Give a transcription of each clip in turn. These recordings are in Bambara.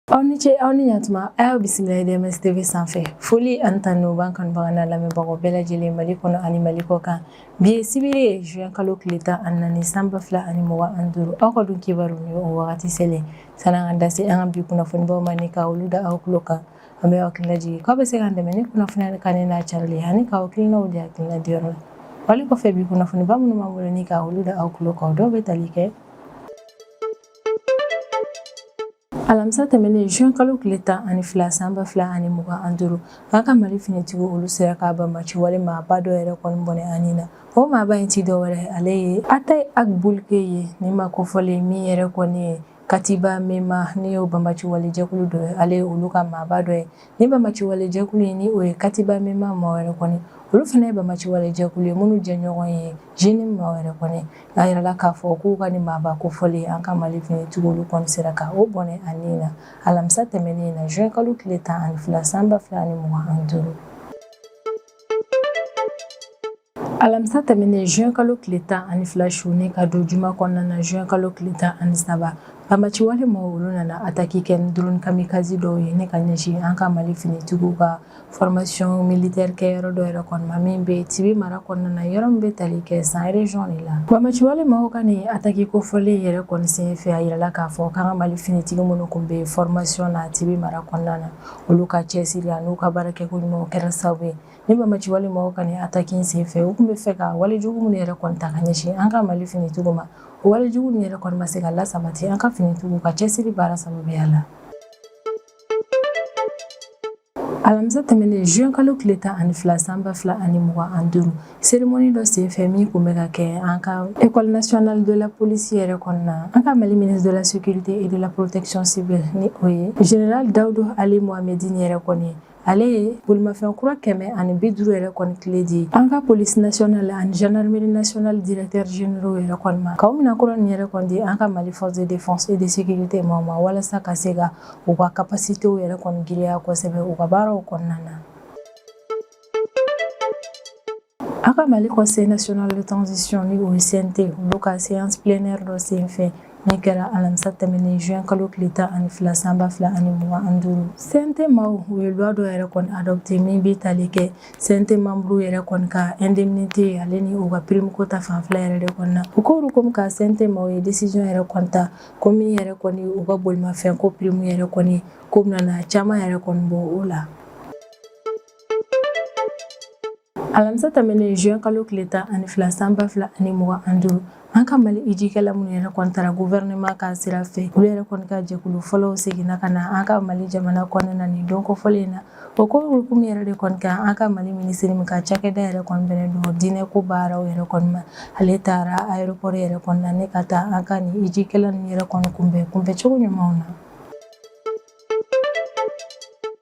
aw ni ce aw ni ɲatuma a y'aw bisimila DMS tv sanfɛ foli ani tanu b'an kanubaga n'an lamɛnbagaw bɛɛ lajɛlen mali kɔnɔ ani mali kɔ kan bi ye sibiri ye juin kalo tile tan ani naani san ba fila ani mugan ani duuru aw ka don kibaru ni o wagati selen san'an ka da se an ka bi kunnafonibaw ma ni ka olu da aw tulo kan An b'aw hakili lajigin k'aw bɛ se k'an dɛmɛ ni kunnafoniya kanuni n'a carili ani k'aw hakilinaw di hakilina diyɔrɔ la wali kɔfɛ bi kunnafoniba minnu b'an bolo ni ka olu da aw tulo kan dɔw bɛ tali kɛ alamisa tɛmɛnen juin kalo tile tan ani fila sanba fila ani mugan an duuru an ka mali finitigiw olu sera ka banbaci wale maaba dɔ yɛrɛ kɔni bɔnɛ a ni na o maaba in tɛ dɔwɛrɛ ale ye Attaye Ag Boulkhey ye nin maa kofɔlen min yɛrɛ kɔni ye Katiba Mema n'o ye banbaci wale jɛkulu dɔ ye ale ye olu ka maaba dɔ ye nin banbaci wale jɛkulu in ni o ye katiba Mema maaw yɛrɛ kɔni olu fana ye banbaci wale jɛkulu ye minnu jɛɲɔgɔn ye JNIM maaw yɛrɛ kɔni a yirala k'a fɔ k'u ka nin maaba kofɔlen an ka mali finitigiw olu kɔni sera ka o bɔnɛ a ni na alamisa tɛmɛnen na juin kalo tile tan ani fila san ba fila ani mugan ani duuru Alamisa tɛmɛnen juin kalo tile 12 su ni ka don juma kɔnɔna na juin kalo tile 13 banbagaci wale mɔgɔw olu nana attaque kɛ ni drone kamikaze dɔw ye ni ka ɲɛsin an ka Mali finitigiw ka formation militaire kɛyɔrɔ dɔ yɛrɛ kɔni ma min bɛ Tibi mara kɔnɔna na yɔrɔ min bɛ tali kɛ San region de la banbagaci wale mɔgɔw ka nin attaque kofɔlen yɛrɛ kɔni senfɛ a yirala k'a fɔ k'an ka Mali finitigi minnu kun bɛ formation na Tibi mara kɔnɔna na olu ka cɛsiri an'u ka baarakɛko ɲumanw kɛra sababu ye Nin banbaci wale mɔgɔw ka nin ataki sen fɛ u tun b'a fɛ ka walejugu minnu yɛrɛ kɔni ta ka ɲɛsin an ka mali finitigiw ma o walejugu ninnu yɛrɛ kɔni ma se ka lasabati an ka finitigiw ka cɛsiri baara sababuya la alamisa tɛmɛnen juin kalo tile tan ani fila sanba fila ani mugan an duuru serimoni dɔ sen fɛ min tun bɛ ka kɛ an ka école nationale de la police yɛrɛ kɔnɔna na an ka mali ministre de la sécurité et de la protection civile ni o ye général Daoud Aly Mohammedine yɛrɛ kɔni ale ye bolimafɛn kura kɛmɛ ani bi duuru yɛrɛ kɔni kile di an ka polisi nasiyɔnal ani zandarimeri nasiyɔnal directeurs généraux yɛrɛ kɔni ma k'o minan kura nin yɛrɛ kɔni di an ka mali force de défense et de sécurité maaw ma walasa ka se ka u ka kapasitew yɛrɛ kɔni girinya kosɛbɛ u ka baaraw kɔnɔna na An ka mali conseil national de transition ni o ye CNT olu ka séance plénière dɔ senfɛ min kɛra alamisa tɛmɛnen juin kalo tile tan ani fila sanba fila ani mugan an duuru CNT maaw u ye loi dɔ yɛrɛ kɔni adopté min bɛ tali kɛ CNT membre yɛrɛ kɔni ka indemnité ale ni u ka prime ko ta fanfɛla yɛrɛ de kɔni na u k'olu kɔmi ka CNT maaw ye décision yɛrɛ kɔni ta ko min yɛrɛ kɔni u ka bolimafɛn ko prime yɛrɛ kɔni k'u bɛna caman yɛrɛ kɔni bɔ o la alamisa tɛmɛnen juin kalo tile tan ani fila san ba fila ani mugan ani duuru an ka mali ijikɛla minnu yɛrɛ kɔni tara guvɛrɛnɛman ka sira fɛ olu yɛrɛ kɔni ka jɛkulu fɔlɔw seginna ka na an ka mali jamana kɔnɔna na nin don kofɔlen na o ko hukumu yɛrɛ de kɔni kan an ka mali minisiri min ka cakɛda yɛrɛ kɔni bɛnnen don diinɛ ko baaraw yɛrɛ kɔni ma ale taara aéroport yɛrɛ kɔni na ne ka taa an ka nin ijikɛla ninnu yɛrɛ kɔni kunbɛn kunbɛn cogo ɲumanw na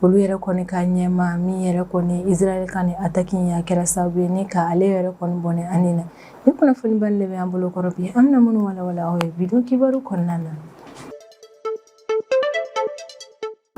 olu yɛrɛ kɔni ka ɲɛmaa min yɛrɛ kɔni Israël ka nin attaque in a kɛra sababu ye ni ka ale yɛrɛ kɔni bɔnɛ a ni na nin kunnafoni ba in de bɛ an bolo kɔrɔ bi an bɛna minnu walawala aw ye bi don kibaru kɔnɔna na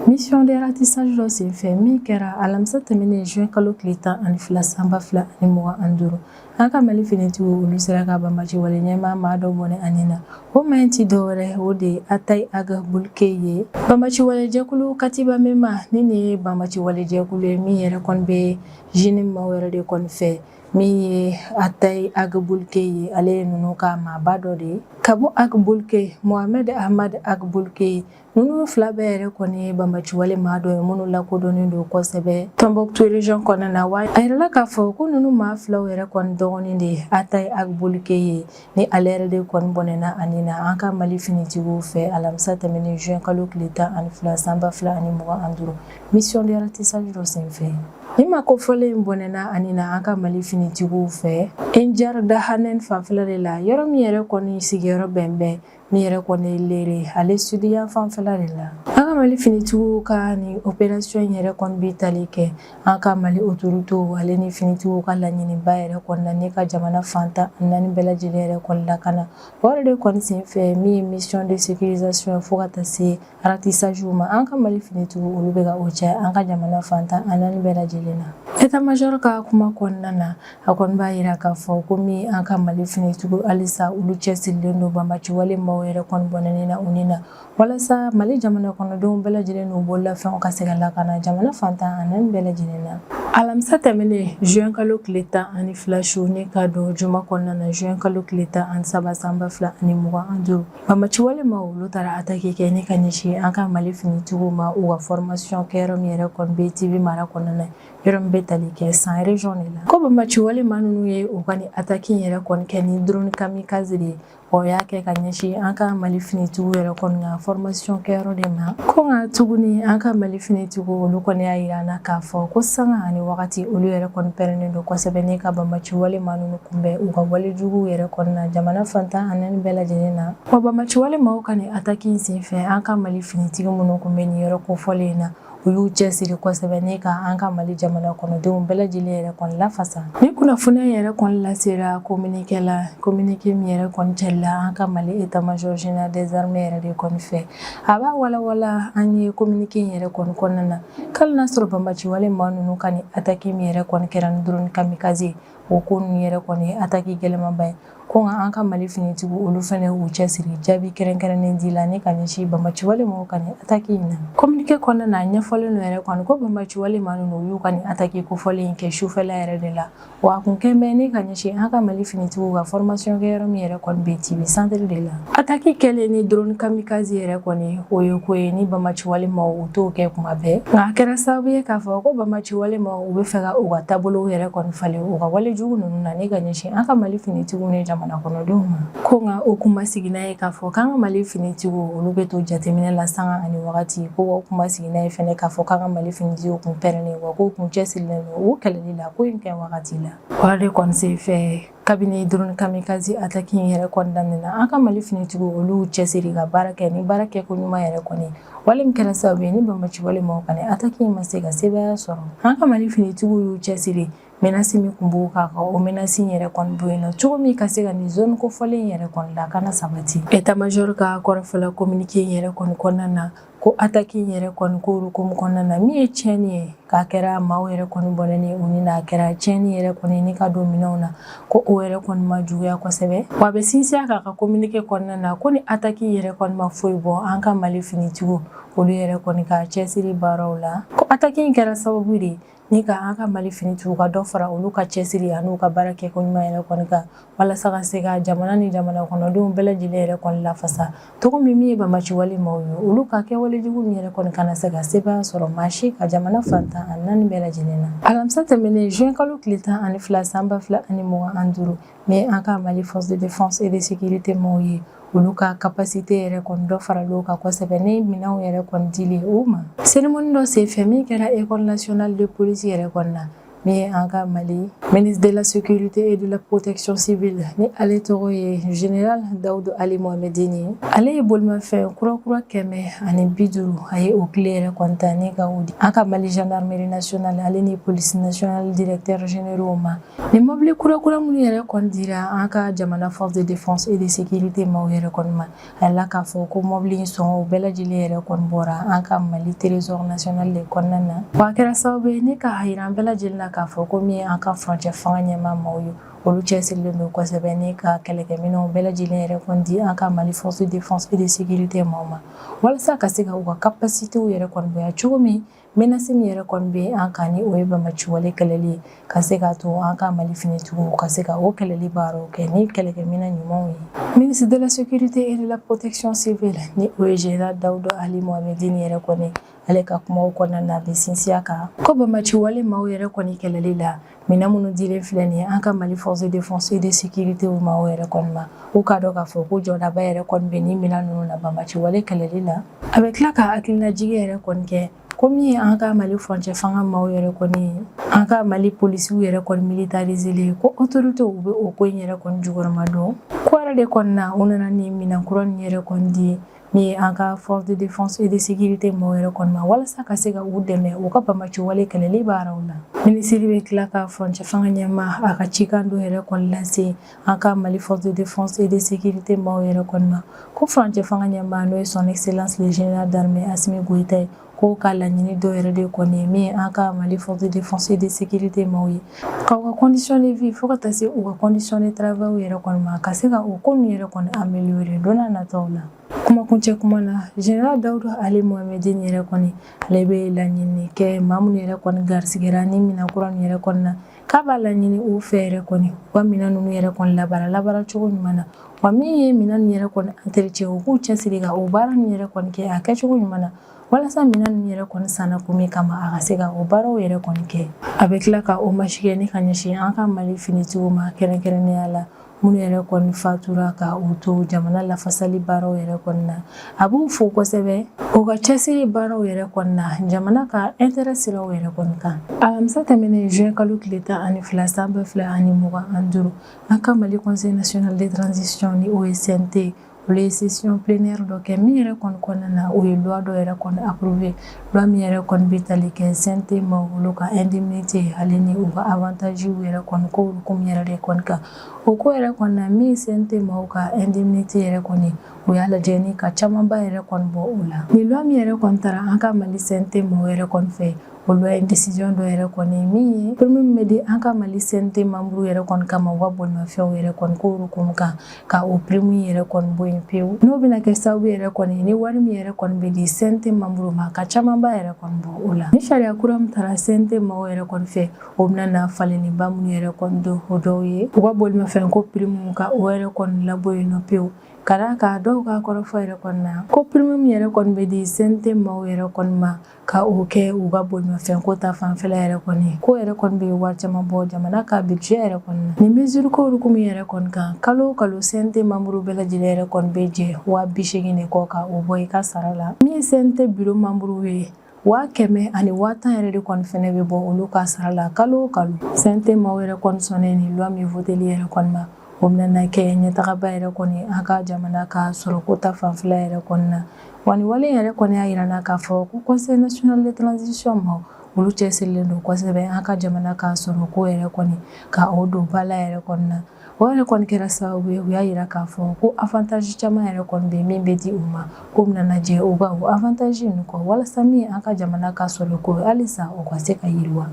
Mission de ratissage dɔ senfɛ min kɛra alamisa tɛmɛnen juin kalo tile tan ani fila san ba fila ani mugan ani duuru An ka mali finitigiw olu sera ka banbaci wale ɲɛmaa maa dɔ bɔnɛ a ni na o maa in tɛ dɔwɛrɛ o de ye Attaye Ag Boulkhey ye banbaci walejɛkulu Katiba Mema ni nin ye banbaci walejɛkulu ye min yɛrɛ kɔni bɛ JNIM maaw yɛrɛ de kɔni fɛ min ye Attaye Ag Boulkhey ye ale ye ninnu ka maaba dɔ de ye Abou Ag Boulkhey Mohamed Ahmad Ag Boulkhey ye Ninnu fila bɛɛ yɛrɛ kɔni ye banbaciwale maa dɔ ye minnu lakodɔnnen don kosɛbɛ Tombouctou région kɔnɔna na wa a yirala k'a fɔ ko ninnu maa filaw yɛrɛ kɔni dɔgɔnin de ye Attaye Ag Boulkhey ye ni ale yɛrɛ de kɔni bɔnɛna a ni na an ka Mali finitigiw fɛ alamisa tɛmɛnen juin kalo tile tan ani fila san ba fila ani mugan ani duuru mission de ratissage dɔ senfɛ nin maa kofɔlen in bɔnɛna a ni na an ka Mali finitigiw fɛ Enjar Dahanen fanfɛla de la yɔrɔ min yɛrɛ kɔni sigiyɔrɔ bɛ bɛn Ni yɛrɛ kɔni ye Léré ale sud yan fanfɛla de la an ka mali finitigiw ka nin opération in yɛrɛ kɔni bɛ tali kɛ an ka mali autoritéw ale ni finitigiw ka laɲiniba yɛrɛ kɔni na ne ka jamana fan tan ani naani bɛɛ lajɛlen yɛrɛ kɔni lakana o de kɔni senfɛ min ye mission de sécurisation fo ka taa se Ratissage ma an ka mali finitigiw olu bɛ ka o cɛ an ka jamana fan tan ani naani bɛɛ lajɛlen na état-major ka kuma kɔnɔna na a kɔni b'a yira k'a fɔ ko min an ka mali finitigiw halisa olu cɛsirilen don banbaciwale maaw yɛrɛ kɔni bɔnɛni na u ni na walasa mali jamana kɔnɔdenw bɛɛ lajɛlen n'u bololafɛnw ka se ka lakana jamana fan tan ani naani bɛɛ lajɛlen na alamisa tɛmɛnen juin kalo tile tan ani fila su ne ka don juma kɔnɔna na juin kalo tile tan ani saba san ba fila ani mugan ani duuru Banbaciwale maaw olu taara attaque kɛ ne ka ɲɛsin an ka mali finitigiw ma u ka formation kɛyɔrɔ min yɛrɛ kɔni bɛ Tiby mara kɔnɔna na yɔrɔ min bɛ tali kɛ San région de la ko banbaciwale maa ninnu ye u ka nin attaque yɛrɛ kɔni kɛ ni drone kamikaze de ye o y'a kɛ ka ɲɛsin an ka mali finitigiw yɛrɛ kɔni ka formation kɛyɔrɔ de ma ko nka tuguni an ka mali finitigiw olu kɔni y'a yira an na k'a fɔ ko sanga ani wagati olu yɛrɛ kɔni pɛrɛnnen don kosɛbɛ ne ka banbaciwale maa ninnu Kunbɛn u ka walejuguw yɛrɛ kɔni na jamana fan tan ani naani bɛɛ lajɛlen na wa banbaci wale maaw ka nin ataki in senfɛ an ka mali finitigi minnu kun bɛ nin yɔrɔ kofɔlen in na u y'u cɛsiri kosɛbɛ ne ka an ka mali jamana kɔnɔdenw bɛɛ lajɛlen yɛrɛ kɔni lafasa ni kunnafoni yɛrɛ kɔni lasera kominike la kominike min yɛrɛ kɔni cila an ka mali état-major général des armées yɛrɛ de kɔni fɛ a b'a walawala an ye kominike in yɛrɛ kɔni kɔnɔna na k'ali n'a sɔrɔ banbaci wale maa ninnu ka nin ataki min yɛrɛ kɔni kɛra ni drone kamikaze O ko ninnu yɛrɛ kɔni ye attaque gɛlɛmanba ye ko nka an ka Mali finitigiw olu fɛnɛ y'u cɛsiri jaabi kɛrɛnkɛrɛnnen di la ni ka ɲɛsin banbagaci wale maaw ka nin attaque in na. Communiqué kɔnɔna na, a ɲɛfɔlen don yɛrɛ kɔni ko banbagaci wale maa ninnu u y'u ka nin attaque kofɔlen in kɛ sufɛla yɛrɛ de la, wa a kun kɛlen bɛ ni ka ɲɛsin an ka Mali finitigiw ka formation kɛ yɔrɔ min yɛrɛ kɔni bɛ Tiby centre de la. Attaque kɛlen ni drone kamikaze yɛrɛ kɔni, o ye ko ye ni banbagaci wale maaw u t'o kɛ kuma bɛɛ, nka a kɛra sababu ye k'a fɔ ko banbagaci wale maaw u bɛ fɛ ka u ka taabolow yɛrɛ kɔni falen u ka walejugu ninnu na ne ka ɲɛsin an ka mali finitigiw ni jamana kɔnɔdenw ma ko nka o kun ma sigi n'a ye k'a fɔ k'an ka mali finitigiw olu bɛ to jateminɛ la sanga ani wagati ko o kun ma sigi n'a ye fɛnɛ k'a fɔ k'an ka mali finitigiw kun pɛrɛnnen wa k'u kun cɛsirilen don u kɛlɛli la ko in kɛ wagati la wa o de kɔni senfɛ kabini drone kamikaze ataki in yɛrɛ kɔni daminɛna an ka mali finitigiw olu cɛsiri ka baara kɛ ni baara kɛko ɲuman yɛrɛ kɔni wale min kɛra sababu ye nin banbaci wale maaw ka nin ataki in ma se ka sebaya sɔrɔ an ka mali finitigiw y'u cɛsiri menasi min kun b'u kan ka o menasi in yɛrɛ kɔni bɔ yen nɔ cogo min ka se ka nin zone kofɔlen in yɛrɛ kɔni lakana sabati etamajɔr ka kɔrɔfɔ la kominike in yɛrɛ kɔni kɔnɔna na Ko ataki in yɛrɛ kɔni ko o hukumu kɔnɔna na min ye tiɲɛni ye, k'a kɛra maaw yɛrɛ kɔni bɔnɛni ye u ni na, a kɛra tiɲɛni yɛrɛ kɔni ye ne ka don minɛnw na, ko o yɛrɛ kɔni ma juguya kosɛbɛ. Wa a bɛ sinsin a kan a ka communique kɔnɔna na ko nin ataki in yɛrɛ kɔni ma foyi bɔ an ka Mali finitigiw olu yɛrɛ kɔni ka cɛsiri baaraw la, ko ataki in kɛra sababu de ye Ni ka an ka mali finitigiw ka dɔ fara olu ka cɛsiri an'u ka baara kɛko ɲuman yɛrɛ kɔni kan walasa ka se ka jamana ni jamana kɔnɔdenw bɛɛ lajɛlen yɛrɛ kɔni lafasa cogo min min ye banbaci wale maaw ye olu ka kɛwalejugu min yɛrɛ kɔni kana se ka sebaya sɔrɔ maa si kan jamana fan tan ani naani bɛɛ lajɛlen na alamisa tɛmɛnen zuwɛnkalo tile tan ani fila san ba fila ani mugan ni duuru Ni an ka mali fɔsi de e de sigi tɛ maaw ye olu ka ka pasi tɛ yɛrɛ kɔni dɔ fara don ka kɔsɛbɛ ne minɛnw yɛrɛ kɔni di o ma serim dɔ sen fɛn min kɛra e kɔnɔ natina de polisi yɛrɛ kɔnɔna na ne ye an ka mali mini dela sete e de la potecsisi bɛ la ni ale tɔgɔ ye zyara dawu don ale mɔgɔmɛden ye ale ye balimafɛn kurakura kɛmɛ ani bi duuru a ye o tile yɛrɛ kɔntan ne ka di an ka mali zdrameresona ale ni polisi naconali de la tɛeyw ma Nin mɔbili kurakura minnu yɛrɛ kɔni dira an ka jamana force de défense et de sécurité maaw yɛrɛ kɔni ma a la k'a fɔ ko mɔbili in sɔngɔ bɛɛ lajɛlen yɛrɛ kɔni bɔra an ka mali trésor national de kɔnɔna na wa a kɛra sababu ye ni k'a yira an bɛɛ lajɛlen la k'a fɔ ko min ye an ka furancɛ fanga ɲɛmaa maaw ye olu cɛsirilen don kosɛbɛ ni ka kɛlɛkɛminɛnw bɛɛ lajɛlen yɛrɛ kɔni di an ka mali force de défense et de sécurité maaw ma walasa ka se ka u ka capacitéw yɛrɛ kɔni bonya cogo min Menace min yɛrɛ kɔni bɛ an kan ni o ye banbaci wale kɛlɛli ye ka se k'a to an ka Mali finitigiw ka se ka o kɛlɛli baaraw kɛ ni kɛlɛkɛminɛn ɲumanw ye. Ministre de la sécurité et de la protection civile ni o ye général Dawuda Ali Mohamedini yɛrɛ kɔni ale ka kumaw kɔnɔna na a bɛ sinsin a kan ko banbaci wale maaw yɛrɛ kɔni kɛlɛli la minɛn minnu dilen filɛ nin ye an ka mali force de défense et de sécurité maaw yɛrɛ kɔni ma u k'a dɔn k'a fɔ ko jɔdaba yɛrɛ kɔni bɛ nin minɛn ninnu na banbaci wale kɛlɛli na a bɛ tila ka hakilinajigi yɛrɛ kɔni kɛ ko min ye an ka mali furancɛ fanga maaw yɛrɛ kɔni an ka mali polisiw yɛrɛ kɔni militariselen ko autoritéw bɛ o ko in yɛrɛ kɔni jukɔrɔmadon ko yɛrɛ de kɔni na u nana ni minɛn kura nin yɛrɛ kɔni di Min ye an ka force de défense et de sécurité maaw yɛrɛ kɔni ma walasa ka se ka u dɛmɛ u ka banbaci wale kɛlɛli baaraw la minisiri bɛ tila ka furancɛ fanga ɲɛmaa a ka cikan dɔ yɛrɛ kɔni lase an ka mali force de défense et de sécurité maaw yɛrɛ kɔni ma ko furancɛ fanga ɲɛmaa n'o ye son excellence le général d'armée Assimi Goïta ye K'o ka laɲini dɔ yɛrɛ de kɔni min ye an ka mali force de défense et de sécurité maaw ye ka u ka condition de vie fo ka taa se u ka condition de travail yɛrɛ kɔni ma ka se ka o ko ninnu yɛrɛ kɔni améliorer don nataw la kumakuncɛ kuma na général Dawuda Ali Mohamedini yɛrɛ kɔni ale bɛ laɲini kɛ maa minnu yɛrɛ kɔni garisigɛra ni minɛn kura ninnu yɛrɛ kɔni na k'a b'a laɲini u fɛ yɛrɛ kɔni u ka minɛn ninnu yɛrɛ kɔni labara labara cogo ɲuman na wa min ye minɛn ninnu yɛrɛ kɔni entretien u k'u cɛsiri ka o baara ninnu yɛrɛ kɔni kɛ a kɛcogo ɲuman na walasa minɛn ninnu yɛrɛ kɔni sanna kun min kama a ka se ka o baaraw yɛrɛ kɔni kɛ a bɛ tila ka hommage kɛ ni ka ɲɛsin an ka mali finitigiw ma kɛrɛnkɛrɛnnenya la minnu yɛrɛ kɔni fatura ka u to jamana lafasali baaraw yɛrɛ kɔni na a b'u fo kosɛbɛ u ka cɛsiri baaraw yɛrɛ kɔni na jamana ka intérêt siraw yɛrɛ kɔni kan alamisa tɛmɛnen juin kalo tile tan ani fila san ba fila ani mugan ani duuru an ka mali conseil national de transition ni o ye CNT olu ye session plénière dɔ kɛ min yɛrɛ kɔni kɔnɔna na o ye loi dɔ yɛrɛ kɔni approuvé loi min yɛrɛ kɔni bɛ tali kɛ CNT membrew ka indemnité hali ni u ka avantage yɛrɛ kɔni ko hukumu yɛrɛ de kɔni kan o ko yɛrɛ kɔni na min CNT maaw ka indemnité yɛrɛ kɔni u y'a lajɛ ni ka camanba yɛrɛ kɔni bɔ o la ni loi min yɛrɛ kɔni taara an ka Mali CNT maaw yɛrɛ kɔni fɛ o loi ye décision dɔ yɛrɛ kɔni ye min ye prime min bɛ di an ka Mali CNT membre yɛrɛ kɔni kama u ka bolimafɛnw yɛrɛ kɔni ko hukumu kan ka o pirimu yɛrɛ kɔni bɔ yen pewu n'o bɛna kɛ sababu yɛrɛ kɔni ye ni wari min yɛrɛ kɔni bɛ di CNT manburu ma ka camanba yɛrɛ kɔni bɔ o la ni sariya kura min taara CNT maaw yɛrɛ kɔni fɛ o bɛna na falenniba minnu yɛrɛ kɔni don o dɔw ye u ka bolimafɛn ko pirimu ka o yɛrɛ kɔni labɔ yen nɔ pewu ka d'a kan dɔw ka kɔrɔfɔ yɛrɛ kɔni na ko pirimu min yɛrɛ kɔni bɛ di CNT maaw yɛrɛ kɔni ma Ka o kɛ u ka bolimafɛn ko ta fanfɛla yɛrɛ kɔni ko yɛrɛ kɔni bɛ wari caman bɔ jamana ka budget yɛrɛ kɔni na ni mesure ko hukumu yɛrɛ kɔni kan kalo kalo CNT manburu bɛɛ lajɛlen yɛrɛ kɔni bɛ jɛ waa bi seegin de kɔ ka o bɔ i ka sara la min CNT biro manburu ye waa kɛmɛ ani waa tan yɛrɛ de kɔni fana bɛ bɔ olu ka sara la kalo kalo CNT maaw yɛrɛ kɔni sɔnnen ni loi min voteli yɛrɛ kɔni ma o bɛna kɛ ɲɛtagaba yɛrɛ kɔni an ka jamana ka sɔrɔko ta fanfɛla yɛrɛ kɔnɔna na wa wale yɛrɛ kɔni y'a jira an na k'a fɔ ko conseil national de transition maaw olu cɛsirilen don kosɛbɛ an ka jamana ka sɔrɔko yɛrɛ kɔni ka o don ba la yɛrɛ kɔnɔna na o yɛrɛ kɔni kɛra sababu ye u y'a jira k'a fɔ ko avantage caman yɛrɛ kɔni bɛ min bɛ di u ma k'u bɛna jɛ o avantage ninnu kɔ walasa min an ka jamana ka sɔrɔko halisa o ka se ka yiriwa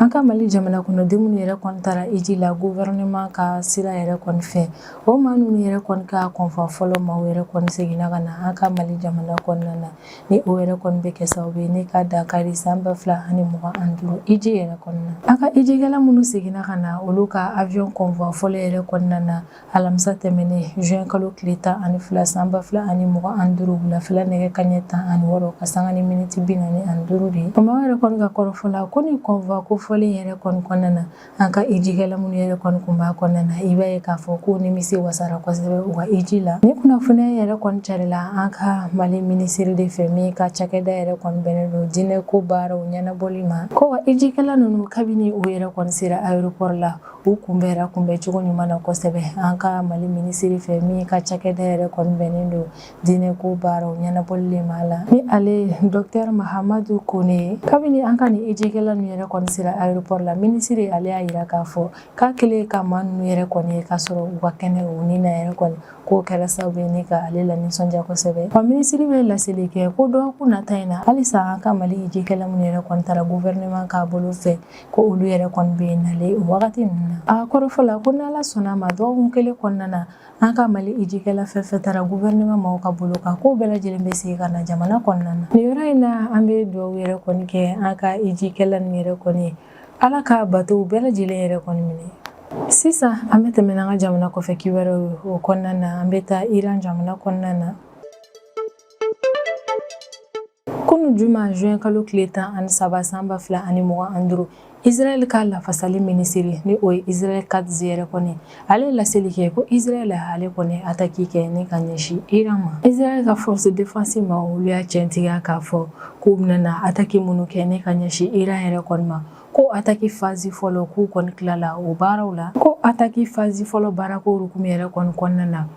An ka mali jamana kɔnɔden minnu yɛrɛ kɔni taara iji la guvɛrɛnɛman ka sira yɛrɛ kɔni fɛ o maa ninnu yɛrɛ kɔni ka convoi fɔlɔ maaw yɛrɛ kɔni seginna ka na an ka mali jamana kɔnɔna na ni o yɛrɛ kɔni bɛ kɛ sababu ye ni ka dankari san ba fila ani mugan ani duuru iji yɛrɛ kɔnɔna na an ka ijikɛla minnu seginna ka na olu ka aviyɔn convoi fɔlɔ yɛrɛ kɔnɔna na alamisa tɛmɛnen juin kalo tile tan ani fila san ba fila ani mugan ani duuru wulafɛla nɛgɛ kanɲɛ tan ani wɔɔrɔ ka sanga ni miniti bi naani ani duuru de kan maaw yɛrɛ kɔni ka kɔrɔfɔ la ko ni convoi kofɔlen yɛrɛ kɔni kɔnɔna na an ka ijikɛla minnu yɛrɛ kɔni kun b'a kɔnɔna na i b'a ye k'a fɔ k'u nimisi wasara kosɛbɛ u ka iji la ni kunnafoniya yɛrɛ kɔni carila an ka mali minisiri de fɛ min ka cakɛda yɛrɛ kɔni bɛnnen don diinɛ ko baaraw ɲɛnabɔli ma ko wa ijikɛla ninnu kabini u yɛrɛ kɔni sera aéroport la U kunbɛnra kunbɛncogo ɲuman na kosɛbɛ an ka mali minisiri fɛ min ka cakɛda yɛrɛ kɔni bɛnnen don diinɛ ko baaraw ɲɛnabɔli ma la ni ale docteur mahamadu kone ye kabini an ka nin ijikɛla ninnu yɛrɛ kɔni sera aéroport la minisiri ale y'a jira k'a fɔ k'a kɛlen ka maa ninnu yɛrɛ kɔni ye k'a sɔrɔ u ka kɛnɛ u ni na yɛrɛ kɔni k'o kɛra sababu ye ni ka ale la nisɔndiya kosɛbɛ wa minisiri bɛ laseli kɛ ko dɔgɔkun nata in na halisa an ka mali ijikɛla minnu yɛrɛ kɔni taara guvɛrɛnɛman ka bolo fɛ ko olu yɛrɛ kɔni bɛ na le o wagati ninnu na a kɔrɔfɔ la ko n'ala sɔnna a ma dɔgɔkun kelen kɔnɔna na an ka mali ijikɛla fɛn fɛn taara guvɛrɛnɛman maaw ka bolo kan k'o bɛɛ lajɛlen bɛ segin ka na jamana kɔnɔna na nin yɔrɔ in na an bɛ dugawu yɛrɛ kɔni kɛ an ka ijikɛla ninnu yɛrɛ kɔni ye ala ka batow bɛɛ lajɛlen yɛrɛ kɔni minɛ sisan an bɛ tɛmɛ n'an ka jamana kɔfɛ kibaruyaw ye o kɔnɔna na an bɛ taa iran jamana kɔnɔna na Kunun juma juin kalo tile tan ani saba san ba fila ani mugan ani duuru Israɛl ka lafasali minisiri ni o ye Israɛl Katz yɛrɛ kɔni ale ye laseli kɛ ko Israɛl ale kɔni attaque kɛ ni ka ɲɛsin Iran ma. Israɛl ka force défense ma olu y'a cɛntigiya k'a fɔ k'u bɛna attaque minnu kɛ ni ka ɲɛsin Iran yɛrɛ kɔni ma ko attaque phase fɔlɔ k'u kɔni tilala o baaraw la. Ko attaque phase fɔlɔ baarako hukumu yɛrɛ kɔni kɔnɔna na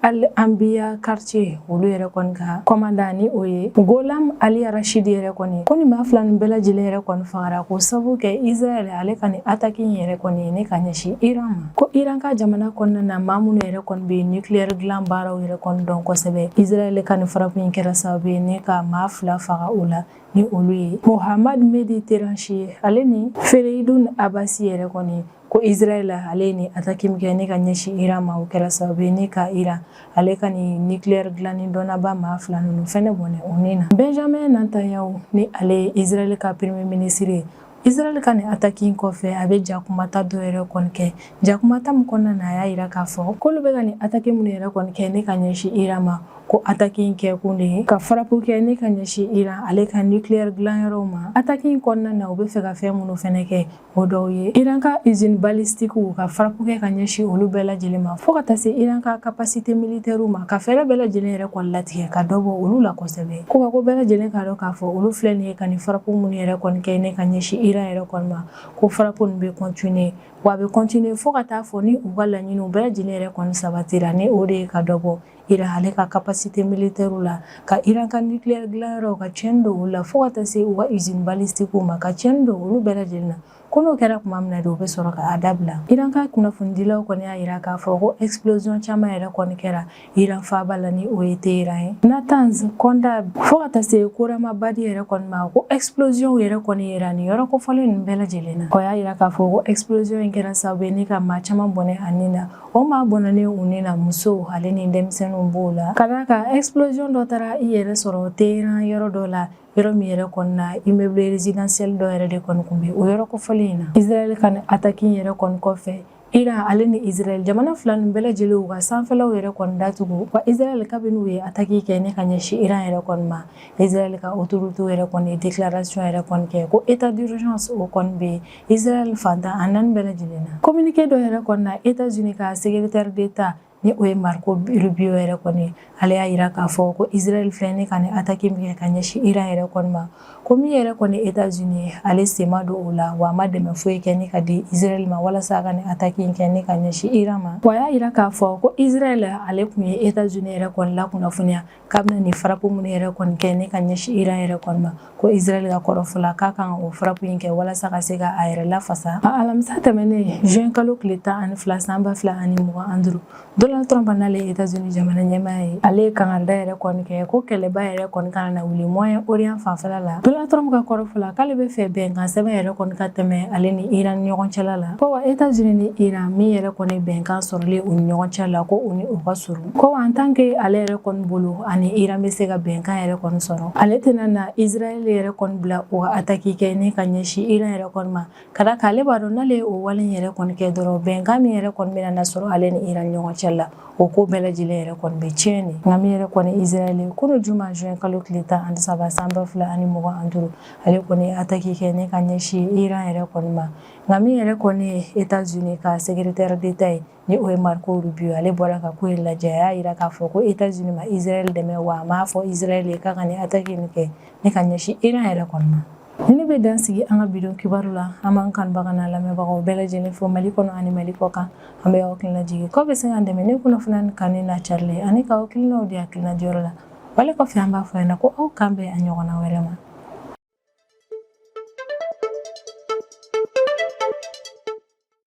Al Anbiya quartier olu yɛrɛ kɔni ka kɔmandan ni o ye Gholam Ali Rashid yɛrɛ kɔni ko nin maa fila nin bɛɛ lajɛlen yɛrɛ kɔni fagara k'o sabu kɛ Israɛl ale ka nin attaque in yɛrɛ kɔni ye ne ka ɲɛsin Iran ma ko Iran ka jamana kɔnɔna na maa minnu yɛrɛ kɔni bɛ nucléaire dilan baaraw yɛrɛ kɔni dɔn kosɛbɛ Israɛl ka nin frappe in kɛra sababu ye ne ka maa fila faga o la ni olu ye Mohammad Mehdi Tehranchi ale ni Fereidun Abbasi yɛrɛ kɔni ko Israel ale ye nin ataki min kɛ ne ka ɲɛsin Iran ma o kɛra sababu ye ne ka Iran ale ka nin nucléaire dilanni dɔnnaba maa fila ninnu fɛnɛ bɔnɛ u ni na Benjamin Netanyahu ni ale ye Israel ka premier ministre ye Israel ka nin ataki in kɔfɛ a bɛ jakumata dɔ yɛrɛ kɔni kɛ jakumata min kɔnɔna na a y'a yira k'a fɔ k'olu bɛ ka nin ataki minnu yɛrɛ kɔni kɛ ne ka ɲɛsin Iran ma ko ataki in kɛkun de ye ka farapu kɛ ne ka ɲɛsin Iran ale ka nucléaire dilanyɔrɔw ma ataki in kɔnɔna na u bɛ fɛ ka fɛn minnu fɛnɛ kɛ o dɔw ye iran ka izini balistikuw ka farapu kɛ ka ɲɛsin olu bɛɛ lajɛlen ma fɔɔ ka taa se iran ka kapasite militɛriw ma ka fɛɛrɛ bɛɛ lajɛlen yɛrɛ kɔni latigɛ ka dɔ bɔ olu la kosɛbɛ ko ka ko bɛɛ lajɛlen k'a dɔn k'a fɔ olu filɛ nin ye ka nin farapu minnu yɛrɛ kɔni kɛ ne ka ɲɛsin iran yɛrɛ kɔni ma ko farapu nin bɛ kɔntine wa a bɛ kɔntine fɔɔ ka taa fɔ ni u ka laɲiniw bɛɛ lajɛlen yɛrɛ kɔni sabatira ni o de ye ka dɔ bɔ Iran ale ka capacité militaire la, ka Iran ka nucléaire dilan yɔrɔ ka tiɲɛni don olu la fo ka taa se u ka usine balistique ma ka tiɲɛni don olu bɛɛ lajɛlen na. Ko n'o kɛra tuma min na de, u bɛ sɔrɔ k'a dabila. Iran ka kunnafonidilaw kɔni y'a yira k'a fɔ ko explosion caman yɛrɛ kɔni kɛra Iran faaba la ni o ye Teheran ye. Natanz Khondab fo ka taa se Khorramabad yɛrɛ kɔni ma, ko explosion yɛrɛ kɔni yera nin yɔrɔ kofɔlen ninnu bɛɛ lajɛlen na. U y'a yira k'a fɔ ko explosion in kɛra sababu ye ni ka maa caman bɔnɛ a ni na. O maa bɔnɛnen u ni na musow ale ni denmisɛnninw b'o la ka d'a kan explosion dɔ taara i yɛrɛ sɔrɔ Teheran yɔrɔ dɔ la yɔrɔ min yɛrɛ kɔni na immeuble résidentiel dɔ yɛrɛ de kɔni tun bɛ o yɔrɔ kofɔlen in na Israël ka nin attaque in yɛrɛ kɔni kɔfɛ Iran ale ni Israël jamana fila nin bɛɛ lajɛlen u ka sanfɛlaw yɛrɛ kɔni datugu wa Israël kabini u ye attaque kɛ ni ka ɲɛsin Iran yɛrɛ kɔni ma Israël ka autorités yɛrɛ kɔni ye déclaration yɛrɛ kɔni kɛ ko état d'urgence o kɔni bɛ Israel fan tan ani naani bɛɛ lajɛlen na communiqué dɔ yɛrɛ kɔnɔna na États-Unis ka secrétaire d'État ni o ye Marco Rubio yɛrɛ kɔni ye ale y'a yira k'a fɔ ko Israel filɛ ni ka nin attaque min kɛ ka ɲɛsin Iran yɛrɛ kɔni ma ko min yɛrɛ kɔni ye États-Unis ye ale sen ma don o la wa a ma dɛmɛ foyi kɛ ni ka di Israel ma walasa a ka nin attaque in kɛ ni ka ɲɛsin Iran ma wa a y'a yira k'a fɔ ko Israel ale tun ye États-Unis yɛrɛ kɔni lakunnafoniya k'a bɛna nin frappe minnu yɛrɛ kɔni kɛ ne ka ɲɛsin iran yɛrɛ kɔni ma ko israel ka kɔrɔfɔla k'a kan o frappe in kɛ walasa ka se ka a yɛrɛ lafasa a alamisa tɛmɛnen juin kalo tile tan ani fila san ba fila ani mugan an duru donald trump n'ale ye etazuni jamana ɲɛmaa ye ale ye kangarida yɛrɛ kɔni kɛ ko kɛlɛba yɛrɛ kɔni kana na wuli moyen orient fanfɛla la donald trump ka kɔrɔfɔla k'ale bɛ fɛ bɛnkan sɛbɛn yɛrɛ kɔni ka tɛmɛ ale ni iran ni ɲɔgɔn cɛla la ko wa etazuni ni iran min yɛrɛ kɔni bɛnkan sɔrɔlen u ni ɲɔgɔn cɛ la ko u ni o ka surun Ko en tant que ale yɛrɛ kɔni bolo ani Iran bɛ se ka bɛnkan yɛrɛ kɔni sɔrɔ, ale tɛna na Israel yɛrɛ kɔni bila o ka attaque kɛ ni ka ɲɛsin Iran yɛrɛ kɔni ma, ka d'a kan ale b'a dɔn n'ale ye o wale in yɛrɛ kɔni kɛ dɔrɔn bɛnkan min yɛrɛ kɔni bɛna na sɔrɔ ale ni Iran ni ɲɔgɔn cɛ la, o ko bɛɛ lajɛlen yɛrɛ kɔni bɛ tiɲɛ de, nka min yɛrɛ kɔni Israel ye kunun juma juin kalo tile 13 san 2025 ale kɔni ye attaque kɛ ni ka ɲɛsin Iran yɛrɛ kɔni ma, nka min yɛrɛ kɔni ye Etats Unis ka secretaire d'Etat ye Ni o ye Marco Rubio ye ale bɔra ka ko in lajɛ a y'a jira k'a fɔ ko Etats Unis ma Israel dɛmɛ wa a m'a fɔ Israel ye k'a ka nin attaque in kɛ ni ka ɲɛsin Iran yɛrɛ kɔni ma. Nin de bɛ dan sigi an ka bi don kibaru la, an b'an kanubaga n'an lamɛnbagaw bɛɛ lajɛlen fo Mali kɔnɔ ani Mali kɔkan. An bɛ aw hakili lajigin k'aw bɛ se k'an dɛmɛ ni kunnafoniya nin kanuni n'a carili ani k'aw hakilinaw di hakilina diyɔrɔ la. Wale kɔfɛ an b'a fɔ ɲɛna ko aw k'an bɛn a ɲɔgɔnna wɛrɛ ma.